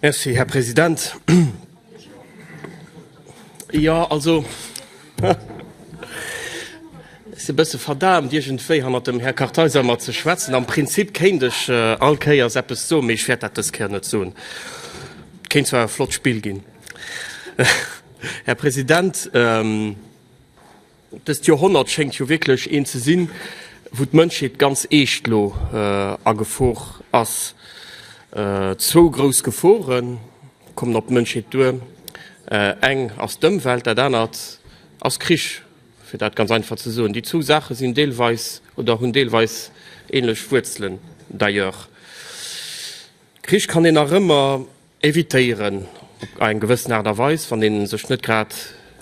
Merci, Här President. Jo, also es e bësse verdaamt, iergendwéi hannert dem Här Kartheiser mat ze schwätzen. Am Prinzip kéint ech all Kéiers eppes soen, mee ech wäert dat dës Kéier net soen. Et kéint zwar e flott Spill ginn, Här President. Dëst Joerhonnert schéngt jo wierklech eent ze sinn, wou d'Mënschheet ganz eescht lo a Gefor ass. Zwou grouss Gefore kommen op d'Mënschheet duer. Eng ass d'Ëmwelt, dat anert ass Krich, fir dat ganz einfach ze soen. Déi zwou Saache sinn deelweis oder hunn deelweis änlech Wuerzelen. D'ailleurs, Krich kann een nach ëmmer. Évitéieren op eng gewëssen Aart a Weis, wann ee sech net grad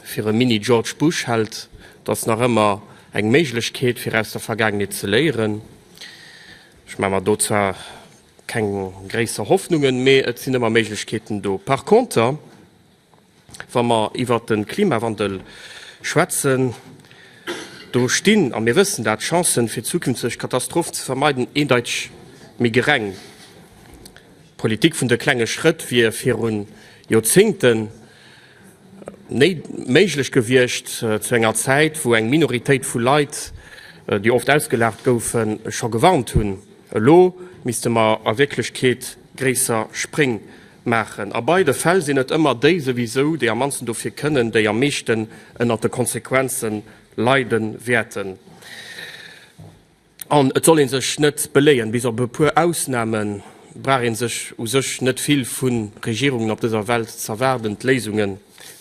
fir e Mini-George Bush hält, dat ass nach ëmmer eng Méiglechkeet, fir aus der Vergaangenheet ze léieren. Ech maache mer do zwar keng gréisser Hoffnungen, mee et sinn ëmmer Méiglechkeeten do. Par conter. Wa mer iwwert de Klimawandel schwätzen, do stinn, a mir wëssen dat, d'Chancen, fir zukünfteg Katastrophen ze vermeiden, eendeiteg méi gereng. D'Politik vun de klenge Schrëtt wier viru Joerzéngten net méiglech gewiescht, zu enger Zäit, wou eng Minoritéit vu Leit, déi oft ausgelaacht goufen, scho gewarnt hunn. Elo misste mer a Wierklechkeet gréisser Spréng Maachen. A beide Fäll sinn et ëmmer déi souwisou, déi am mannsten dofir kënnen, déi am meeschten ënnert de Konsequenze leide wäerten. An et soll ee sech net beléien, bis op e puer Ausnamen brauch ee sech u sech net vill vu Regierungen op dëser Welt z'erwaarden, d'Léisunge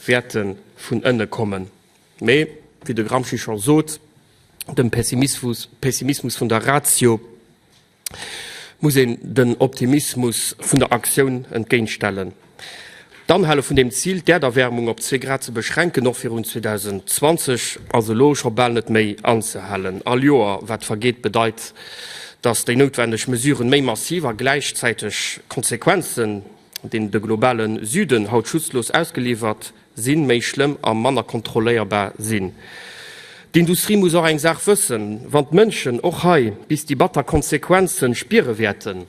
wäerte vun ënne kommen. Mee wéi de Gramsci scho sot, dem Pessimismus vun der Ratio muss een den Optimismus vun der Aktioun entgéintstellen. D'Anhale vun dem Zil, d'Äerderwäermung op zwee Grad ze beschränken, och virun 2020, ass elo scho bal net méi anzehalen. All Joer, wat vergeet, bedeit, datt déi noutwendeg Mesuren méi massiv a gläichzäiteg Konsequenzen deen de globale Süden haut schutzlos ausgeliwwert sinn, méi schlëmm a manner kontrolléierbar sinn. D'Industrie muss och eng Saach wëssen, Wann d'Mënschen och hei bis déi batter Konsequenze spiere wäerten,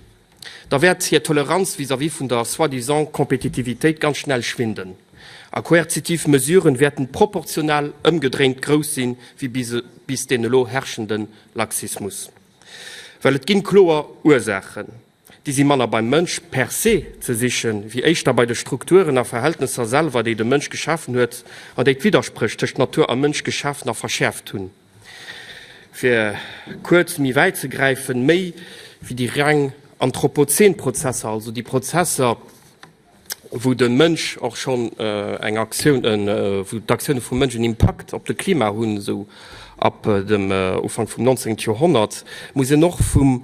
da wäert hir Toleranz vis-à-vis vun der soi-disant Kompetitivitéit ganz schnell schwinden a koerzitiv Mesuren wäerten proportional ëmgedréint grouss sinn wéi bis deen elo herrschenden Laxismus. Well et ginn kloer Ursaachen. Déi si manner beim Mënsch per se ze sichen, wéi éischter bei de Strukturen a Verhältnesser selwer, déi de Mënsch geschafen huet an déi d'Widderspréch tëscht Natur a Mënsch geschaafen a verschäerft hunn. Fir kuerz méi wäit ze gräifen, méi wéi déi reng anthropozeen Prozesser, also déi Prozesser, wou de Mënsch och schonn eng Aktioun, wou d'Aktioune vum Mënsch en Impakt op de Klima hunn, esou ab dem Ufank vum 19. Joerhonnert, muss een och vum.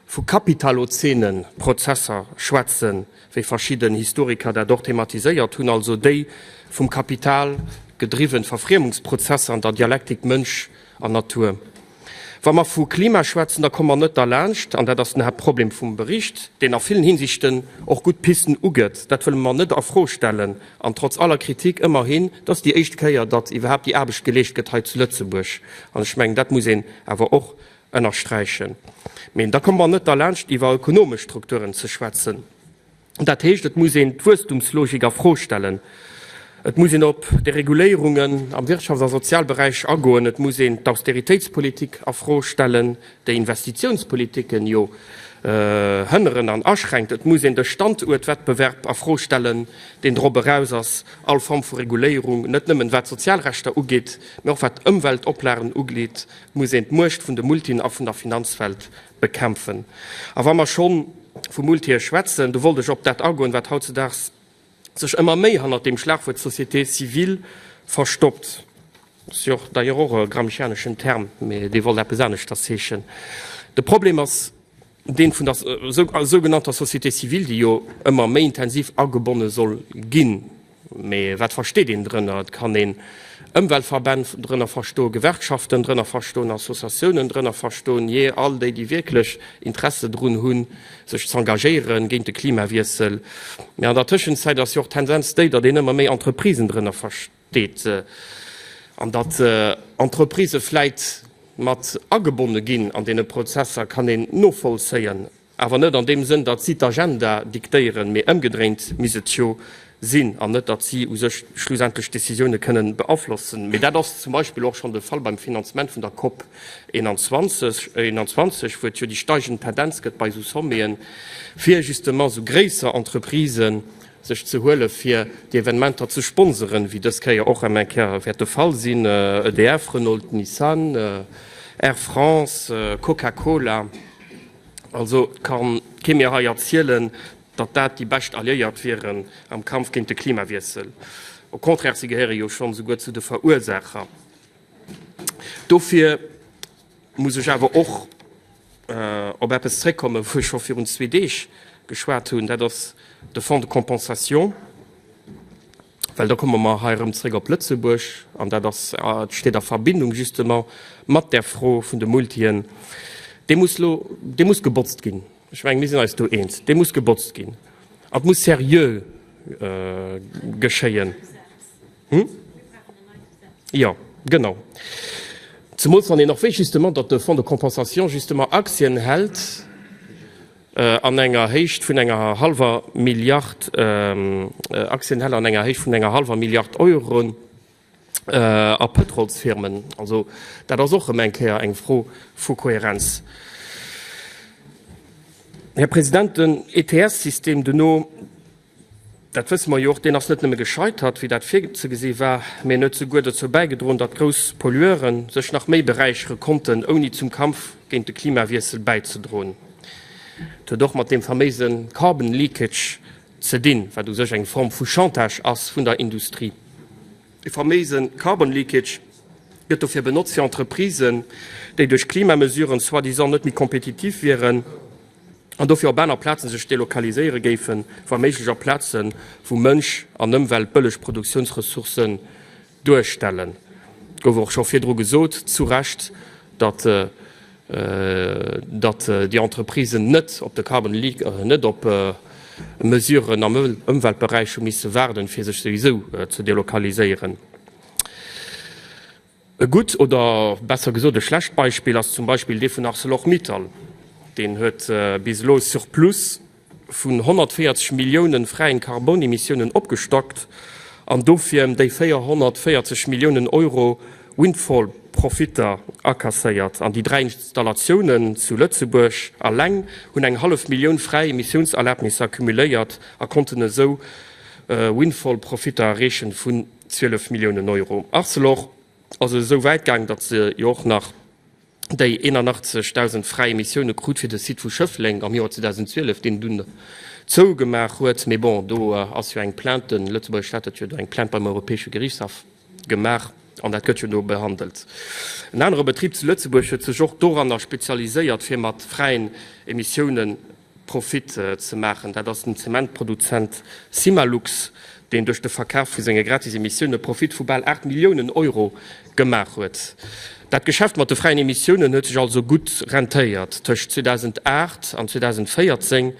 Vu kapitalozenen Prozesser schwätzen, wéi verschidden Historiker dat och thematiséiert hunn, also déi vum Kapital gedriwwen Verfriemungsprozesser an der Dialektik Mënsch an Natur. Wa mer vu Klima schwätzen, da komme mer net derlaanscht, an dat ass den Haaptproblem vum Bericht, deen a villen Hinsichten och gutt Pisten ugëtt, dat wëlle mer net a Fro stellen, an trotz aller Kritik ëmmerhin, et ass déi éischt Kéier, datt iwwerhaapt déi Aarbecht geleescht gëtt hei zu Lëtzebuerg, an ech mengen, dat muss een awer och ënnersträichen. Mee da komme mer net derlaanscht iwwer ökonomesch Strukturen ze schwätzen. Dat heescht, et muss een d'Wuesstumslogik a Fro stellen, et muss een op Dereguléierungen am Wirtschafts a Sozialberäich agoen, et muss een d'Austeritéitspolitik a Fro stellen, déi Investitiounspolitiken jo hënneren an aschränkt, et muss een de Standuertwettbewerb a Fro stellen, deen drop eraus ass, all Form vu Reguléierung, net nëmmen wat d'Sozialrechter ugeet, mee och wat d'Ëmweltoplagen ugeet, muss een d'Muecht vun de Multien a vun der Finanzwelt bekämpfen. A wa mer schonn vu Multië schwätzen, do wollt ech op dat agoen, wat hautzedaags sech ëmmer méi hannert deem Schlagwuert Société civile verstoppt. Dat ass jo d'ailleurs och e gramscianeschen Term, mee dee wollt eppes aneschters heeschen. De Problem ass, deen vun der sougenannter Société civile, déi jo ëmmer méi intensiv agebonne soll ginn, mä wat versteet een drënner? Et kann een Ëmweltverbänn drënner verstoen, Gewerkschaften drënner verstoen, Associatiounen drënner verstoen, jee, all déi, déi wierklech Interesse drun hunn, sech z'engagéiere géint de Klimawiessel. Mä an der Tëschenzäit ass jo och d'Tendenz déi, datt een ëmmer méi Entreprisen drënner versteet. deet an datt Entreprisë vläit mat agebonne ginn an deene Prozesser, kann een novollzéien, awer net an deem Sënn, datt si d'Agenda diktéieren, mee ëmgedréint misst et jo sinn, an net datt si u sech schlussendlech d'Decisioune kënnen beaflossen. Mee dat ass zum Beispill och schonn de Fall beim Finanzement vun der COP 21, wou et jo déi steigend Tendenz gëtt bei esou Sommeten, fir justement esou gréisser Entreprisen, sech ze huelen, fir déi Evenementer ze sponseren, wéi dës Kéier och ëm eng Kéier wäert de Fall sinn, EDF, Renault, Nissan, Air France, Coca-Cola. Also ka kee mir hei erzielen, datt dat déi bescht Alliéiert wieren am Kampf géint de Klimawiessel. Au contraire, si gehéiere jo schonn esouguer zu de Verursaacher dofir. Muss ech awer och op eppes zréckkommen, wou ech scho virun zwee Deeg geschwat hunn, dat ass de Fonds de compensation. Well da komme mer hei erëm zréck op Lëtzebuerg, an dat ass, dat steet a Verbindung justement mat där Fro vun de Multien. Dee muss elo, dee muss gebotzt ginn. Ech mengen, mir sinn eis do eens, dee muss gebotzt ginn. An et muss seriö geschéien. Hm? Jo, genau. Zemools wann een och wéisst justement, datt de Fonds de compensation justement Aktien hält an enger Héicht vun enger hallwer Milliard, Aktien hält an enger Héicht vun enger hallwer Milliard Euro a Pëtrolsfirmen. Also dat ass och erëm eng Kéier eng Fro vu Kohärenz. Här President, den ETS-System duerno. Dat wësse mer jo och. Deen ass net nëmme gescheitert, wéi dat virzegesi war, mee en huet souguer dozou bäigedroen, datt grouss Pollueure sech nach méi beräichere konnten, ouni zum Kampf géint de Klimawiessel bäizedroen. Et huet och mat deem faméise carbon leakage ze dinn, wat u sech eng Form vu Chantage ass vun der Industrie. Dee faméise carbon leakage gëtt dofir benotzt, fir Entreprisen, déi duerch Klimamesuren soi-disant net méi kompetitiv wieren, an dofir op aner Plaze sech delokaliséiere géifen, wa méiglech op Plaze wou Mënsch an Ëmwelt bëlleg Produktiounsressourcen duerstellen. Et gouf och scho virdru gesot, zu Recht, datt déi Entreprisen net op de carbon leak, net op Mesuren am Ëmweltberäich hu misse waarden, fir sech souwisou ze delokaliséieren. E gutt oder besser gesot e schlecht Beispill ass zum Beispill dee vun Arcelor-Mittal. Deen huet bis elo e Surplus vun 140 Milliounen fräien Karbonemissiounen opgestockt an dofir em déi 440 Milliounen Euro Windfall-Profitter akasséiert. An déi dräi Installatiounen zu Lëtzebuerg alleng hunn eng hallef Millioun fräi Emissiounserlabnisser cumuléiert a konnten esou Windfall-Profitter erreechen vun. 12 Milliounen Euro. Arcelor ass esou wäit gaang, datt se jo och nach déi 81.000 fräi Emissioune krut fir de Site vu Schëffleng am Joer 2012, deen dunn zougemaach huet. Mee bon, do ass jo eng Plainte, de lëtzebuerger Staat huet jo do eng Plainte beim Europäesche Gerichtshaff gemaach an dat gëtt jo do behandelt. En anere Betrib zu Lëtzebuerg huet sech och doranner spezialiséiert, fir mat fräien Emissiounen Profit ze maachen. Dat ass den Zementproduzent Simalux, deen duerch de Verkaf vu senge gratis Emissioune Profit vu bal 8 Milliounen Euro gemaach huet. Dat Geschäft mat de fräien Emissiounen huet sech also gutt rentéiert. Tëscht 2008 an 2014,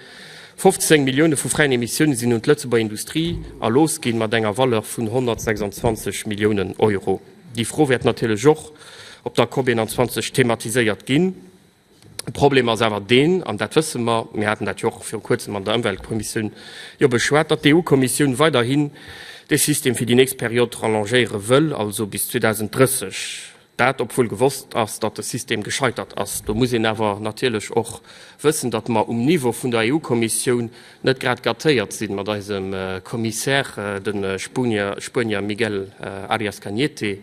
15 Millioune vu fräien Emissioune sinn un d'Lëtzebuerger Industrie erlooss ginn, mat enger Valeur vun 126 Milliounen Euro. Déi Fro wäert natierlech och op der COP21 thematiséiert ginn. De Problem ass awer deen, an dat wësse mer, mir haten dat jo och viru Kuerzem an der Ëmweltkommissioun jo beschwat, datt d'EU-Kommissioun weiderhin dee System fir déi nächst Period rallongéiere wëll, also bis 2030. Dat obwuel gewosst ass, datt de System gescheitert ass. Do muss een awer natierlech och wëssen, datt mer um Niveau vun der EU-Kommissioun, net grad gâtéiert sinn mat eisem Commissaire, de Spuenier Miguel Arias Cañete,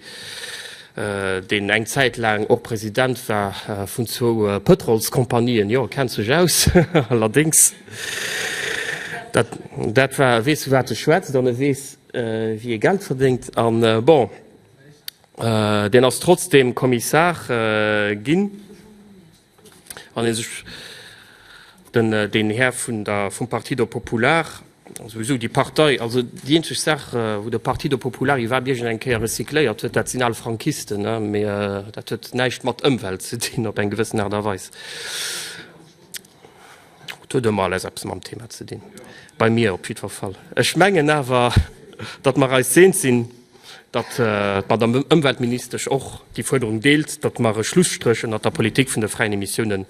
deen eng Zäit laang och President war vun zwou Pëtrolskompanien. Jo, e kennt sech aus, allerdéngs. Dat war, e weess vu wat e schwätzt an e weess wéi ee Geld verdéngt. A bon, deen ass trotzdeem Kommissar ginn. Wann ee sech den, deen Här vun der, vum Partido Popular, souwisou déi Partei, also déi eenzeg Saach, wou de Partido Popular iwwerhaapt iergend eng Kéier recycléiert huet, dat sinn al Frankisten, mä dat huet näischt mat Ëmwelt ze dinn op eng gewëssen Aart a Weis. Et huet ëmmer alles eppes mam Thema ze dinn, bei mir op jiddwer Fall. Ech mengen awer, datt mer eis eens sinn, datt d'Madam Ëmweltministesch och déi Fuerderung deelt, datt mer e Schlusstréch ënnert der Politik vun de fräien Emissiounen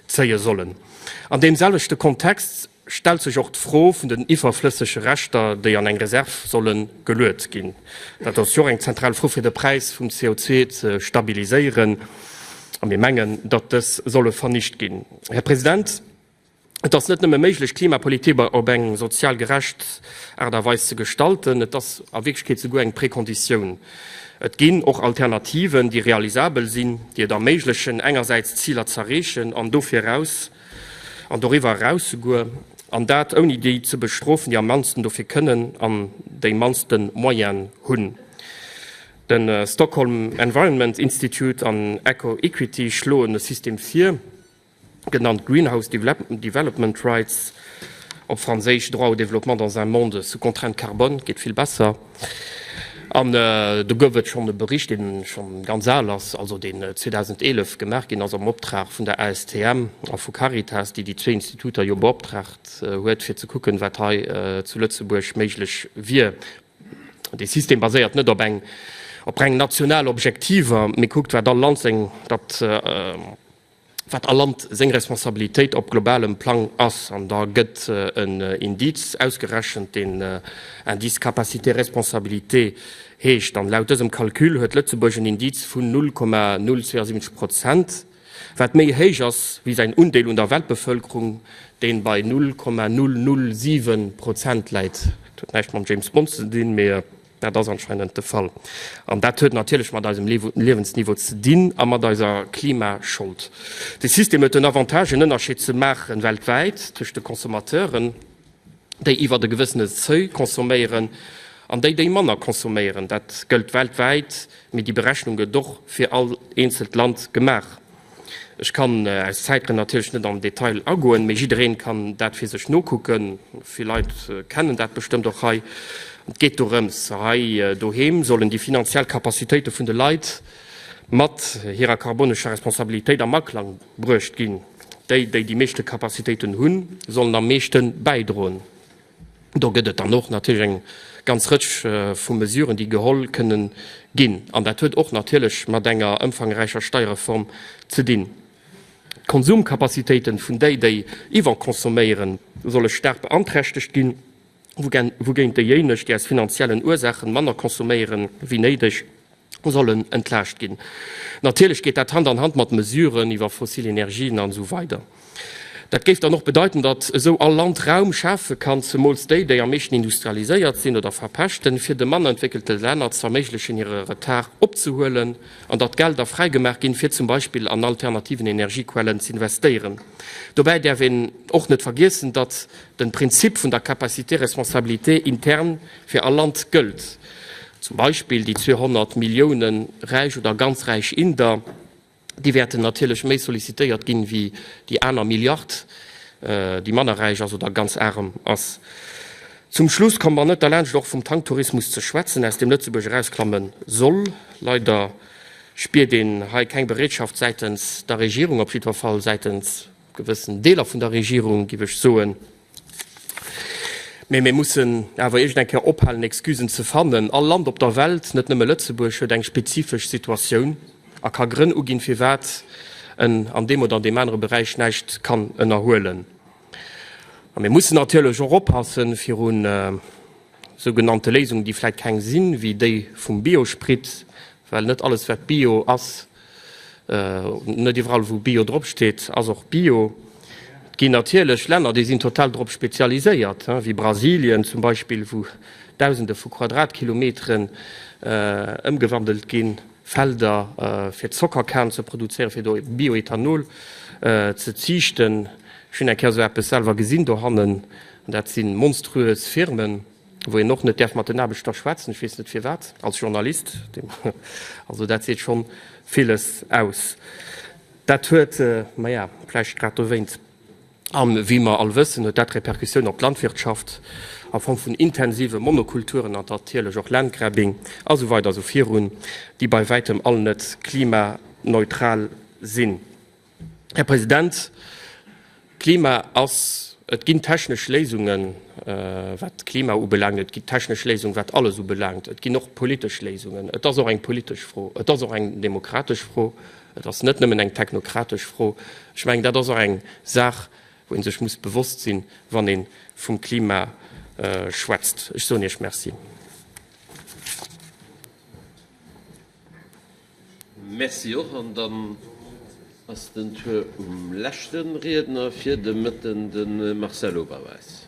zéie sollen. An deem selwechte Kontext stellt sech och d'Fro vun den iwwerflëssege Reschter, déi an eng Reserv solle geluet ginn. Dat ass jo och eng zentral Fro, fir de Präis vum CO2 ze stabiliséieren. A mir mengen, datt dës solle vernicht ginn. Här President, et ass net nëmme méiglech, d'Klimapolitik op eng sozial gerecht Aart a Weis ze gestalten, et ass a Wierklechkeet souguer eng Prekonditioun. Et ginn och Alternativen, déi realisabel sinn, déi et erméiglechen, engersäits d'Ziler z'erreechen an dofir eraus, an doriwwer eraus souguer, an dat ouni déi ze bestrofen, déi am mannsten dofir kënnen an déi mannste Moyene hunn. De Stockholm Environment Institute an Eco-Equity schloen e System vir, genannt Greenhouse Development Rights, op Franséisch Droit au développement dans un monde sous contraintes carbone, geet vill besser. An do gouf et schonn e Bericht, dee scho ganz al ass, also deen 2011 gemaach ginn ass am Optrag vun der ASTM a vu Caritas, déi déi zwee Instituter jo beoptraagt huet, fir ze kucken, wat hei zu Lëtzebuerg méiglech wier. Dee System baséiert net op eng op reng national Objektiver, mee kuckt, wat all Land seng dat wat all Land seng Responsabilitéit op globalem Plang ass. An da gëtt en Indiz ausgerechent, deen Indice capacité responsabilité heescht. An laut dësem Calcul huet Lëtzebuerg en Indiz vun 0,072 Prozent. Wat méi héich ass wéi säin Undeel un der Weltbevëlkerung, deen bei 0,007 Prozent läit. Dat huet näischt mam James Bond ze dinn, mee dat ass anscheinend de Fall. An dat huet natierlech mat eisem Liewensniveau ze dinn a mat eiser Klimaschold. De System huet den Avantage en Ënnerscheed ze maachen weltwäit tëscht de Consommateuren. déi iwwert e gewëssene Seuil consomméieren an déi, déi manner consomméieren. Dat gëllt weltwäit, mee déi Berechnung gëtt och fir all eenzelt Land gemaach. Ech kann aus Zäitgrënn natierlech net am Detail agoen, mee jiddereen kann dat fir sech nokucken. Vill Leit kennen dat bestëmmt och hei. Et geet dorëms, hei doheem sollen déi finanziell Capacitéite vun de Leit mat hirer karbonescher Responsabilitéit am Aklang Bruecht ginn. Déi, déi déi meeschte Capacitéiten hunn, sollen am meeschte bäidroen. Do gëtt et dann och natierlech eng ganz Rëtsch vu Mesuren, déi geholl kënnen ginn. An dat huet och natierlech mat enger ëmfangräicher Steierreform ze dinn. D'Konsumcapacitéiten vun déi, déi iwwerconsomméieren, solle staark beanträchtegt ginn. wougéint déijéineg, déi aus finanziellen Ursachen manner consomméieren wéi néideg, sollen entlaascht ginn. Natierlech geet dat Hand an Hand mat Mesuren iwwer fossil Energien an esou weider. Dat géif dann och bedeiten, datt esou all Land Raum schafe kann, zemools déi, déi am meeschten industrialiséiert sinn oder verpeschten, fir de manner entwéckelte Länner z'erméiglechen hire Retard opzehuelen, an datt Gelder fräi gemaach ginn, fir zum Beispill an alternativen Energiequellen z'investéieren. Dobäi däerf een och net vergiessen, datt. den Prinzip vun der capacité responsabilité interne fir all Land gëllt, zum Beispill déi 200 Millioune räich oder ganz räich Inder, déi wäerten natierlech méi sollicitéiert ginn wéi déi aner Milliard, déi manner räich ass oder ganz arem ass. Zum Schluss komme mer net derlaanscht och vum Tanktourismus ze schwätzen, aus deem Lëtzebuerg erausklamme soll. Leider spiert een hei keng Bereetschaft säitens der Regierung, op jiddwer Fall säitens Gewëssen Deeler vun der Regierung, géif ech soen. Mee mir mussen awer iergend eng Kéier ophalen, Excusen ze fannen. All Land op der Welt, net nëmme Lëtzebuerg, huet eng spezifesch Situatioun a ka Grënn uginn, firwat en an deem oder an deem anere Beräich näischt kann ënnerhuelen. A mir mussen natierlech och oppassen viru sougenannte Léisungen, déi vläicht keng sinn, wéi déi vum Biospritt, Well net alles wat Bio ass, net iwwerall wou Bio drop steet ass och Bio. Et ginn natierlech Länner déi sinn total drop spezialiséiert, wéi Brasilien zum Beispill, wou dausende vu Quadratkilometeren ëmgewandelt ginn, Felder fir Zockerkan ze produzéieren, fir do Bioethanol ze ziichten. Ech hunn eng Kéier esou eppes selwer gesinn dohannen, an dat si monstruös Firmen. wou een och net däerf mat den Aarbechter schwätzen, ech weess net firwat, als Journalist, also dat seet schonn villes aus. Dat huet, maja, vläicht grad dowéint, a wéi mer all wëssen, huet dat Repercussioun op d'Landwirtschaft a Form vun intensive Monokulturen an natierlech och Landgrabbing a sou weider a sou virun, déi bei wäitem all net klimaneutral sinn. Här President, Klima ass, et ginn technesch Léisungen, wat d'Klima ubelaangt, et ginn technesch Léisungen, wat alles ubelaangt, et ginn och politesch Léisungen. Et ass och eng politesch Fro, et ass och eng demokratesch Fro, et ass net nëmmen eng technokratesch Fro. Ech mengen, dat ass och eng Saach, wou ee sech muss bewosst sinn, wann ee vum Klima schwätzt. Ech soen Iech Merci. Merci och. An dann ass den Tour um leschte Riedner fir de Mëtten, de Marcel Oberweis.